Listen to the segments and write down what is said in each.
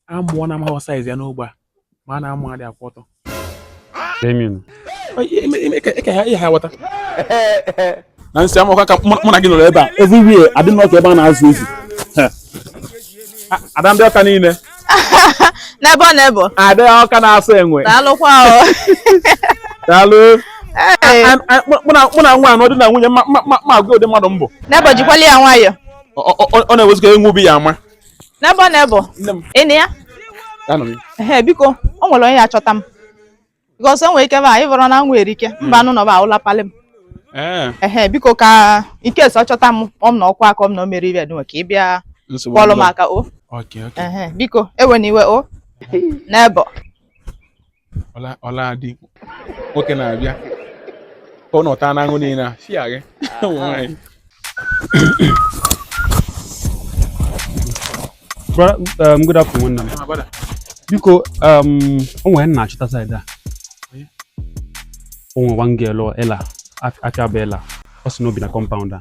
amụ ọ na-amaghị size ya n'ogbe a mara na amụ adị akwụ ọtọ na nsị amụkwa ka mụ na gị nọrọ ebe a everywhere adị n'ọka ebe a na-azụ ezi ada ndị Ọka niile n'ebe ọ na-ebe ada Ọka na-asọ enwe daalụkwa daalụ mụ na nwa a nọ di na nwunye ma agwa ụdị mmadụ m bụ Nebo jikwala ya nwayọ ọ na-ewezuga enwe obi ya ama Nebo Nebo Nne m, ị na ya anọ m. ehe biko o nwere onye achọta m because o nwere ike ba ịbụrụ na nwere ike mba anụ nọba ụlapalị m Ee, ehe biko ka i kesi chọta m ọ m na ọkwa aka ọ m na o mere ibe dịnwe ka ị bịa nsogbu kpọlụ m adịghị. aka o Okay, okay. ehe biko ewena iwe o Nebo ọla adị nwoke na-abịa ka ọ nọta n'aṅụ niile a si ya gị um, good afternoon nna m ah, biko um, o nwere m na-achọta side a o nwere one girl Ella afa ya bụ Ella ọ sị na o bi na compound a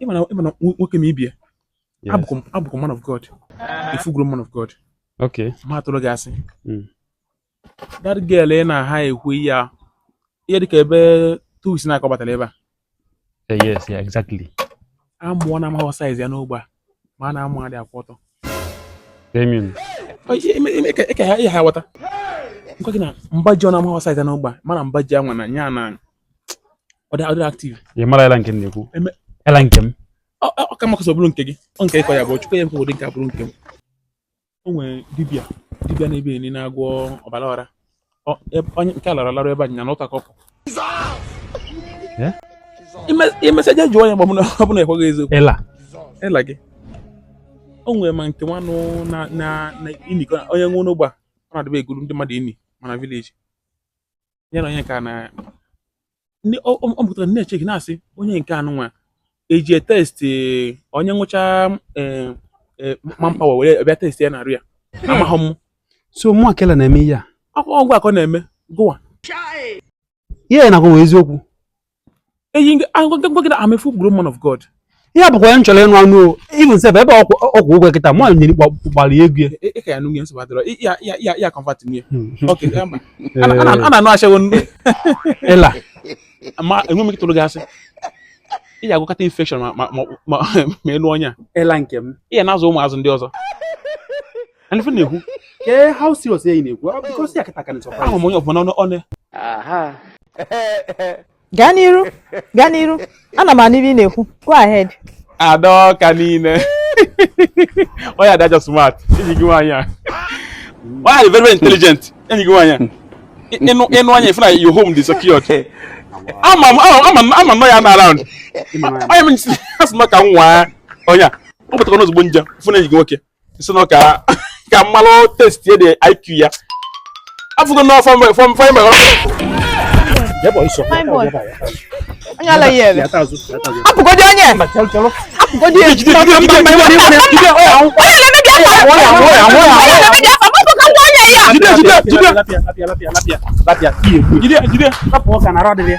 ị ma na ị ma na nwoke m ị bịa abụkwa abụkwa man of God a full grown man of God okay ma atụrụ gị asị hmm. that girl ị na-ekwu ya ihe dịka ebe two weeks now ka ọ batara ebe a eh, yes yeah exactly amụ ọ na-amaghọ size ya n'ogbe a mara na amụ adị akwụ ọtọ ị ka ya aghọta m gwa gị na mba ji ọ na-amaghọ size ya n'ogbe a mara na mba ji anwa na nya na ọ dị adịrọ active ị mara Ella nke m na-ekwu Eme- Ella nke m ọ ka makọsọ bụrụ nke gị ọ nke ịkọ ya bụ chukwu ya nke ụdị nke a bụrụ nke m o nwere dibịa dibịa n'ebe anyị na-agwọ ọbara ọra Ọ- eb- onye nke a lara larụ ebe anyị na n'ụta kọpụ Eh? i mesịa je jụọ ya ma ọ bụ na ọ bụ na ekwughị eziokwu Ella Ella gị o nwere ma nke nwanụ na na na ini ka onye nwe n'ogbe a ọ na-adịbe egwulu ndị mmadụ ini ma na village ya na onye nke a na ndị ọ ọ- ọ pụtara na-eche gị na-asị onye nke anụnwa e ji test onye ṅụcha manpower were bịa test ya n'arụ ya amaghị m so mụ akela na-eme ihe a akwụkwọ ọgwụ akọ na-eme gụwa ihe m na-agwa wụ eziokwu eyi m gwa gị na I'm a full grown man of God ihe a abụkwa ihe m chọrọ ịnụ anụ o even sef ebe ọkwụ ọkwụ ụgwọ kịta mụ nyere gbara ya egwu ya Ị- ị ka ya nụnye nsogbu adịrọ Ị- ya- ya- ya- ya convert nụ ya Ok, eh, ma. A na- a na- a na-anụ ashawo anụ. Ella ma enwe m ike tụrụ gị asị ị ga-agwọkata infection ma ma ma ma ma elu ọnya Ella nke m ị ya na-azụ ụmụazị ndị ọzọ And if you yeah, how serious are you? Well, because you can't can surprise. I'm on your phone on it. Aha. Gaa n'iru, gaa n'iru. Ana m anụ ife ị na-ekwu. Go ahead. Ada ọka niile. Onye ada just smart. Enyi gị nwaanyị a. Onye dị very very intelligent. Enyi gị nwaanyị a. Ị nee anya ị fụ na your home dị secured. Ama m ama m ama m nọ ya na around. Onye m asị m ka m nwaa onye a. Ọ pụtara n'ozugbo m je fụ na enyi gị nwoke. sị na ka ka m malụ testi dị IQ ya afụgo na fọm fọm fọm mgbe apụgodi onye apụgodi onye jide jide jide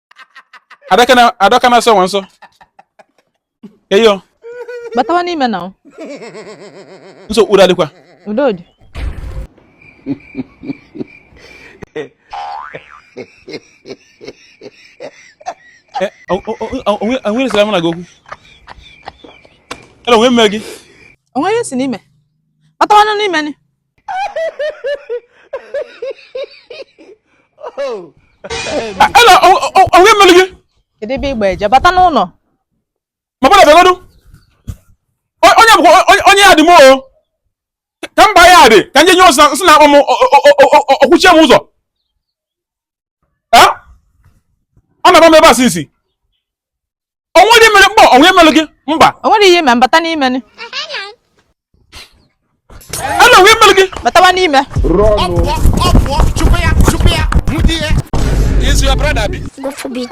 adaka na adaka na so nwanso eyo batawa n'ime na o nso udo adịkwa udo dị o nwere sere mụ na gị okwu hello o nwe mere gị o nwe ihe si n'ime batawanụ n'ime ni Hello, o nwe melu gị? Kedu ebe ị gba eje? Bata n'ụlọ. Ma batabegodu. Onye bụ onye ya dị m o. Ka mba ya dị, ka m je nye ọ sị na akpọ m ọ kwụchie m ụzọ. ọ na-agba m ebe a sisi o nwedị mere mba o nwe mere gị mba o nwere ihe me bata n'ime ni hello o nwe mere gị batawa n'ime Is your brother be? Go for beat.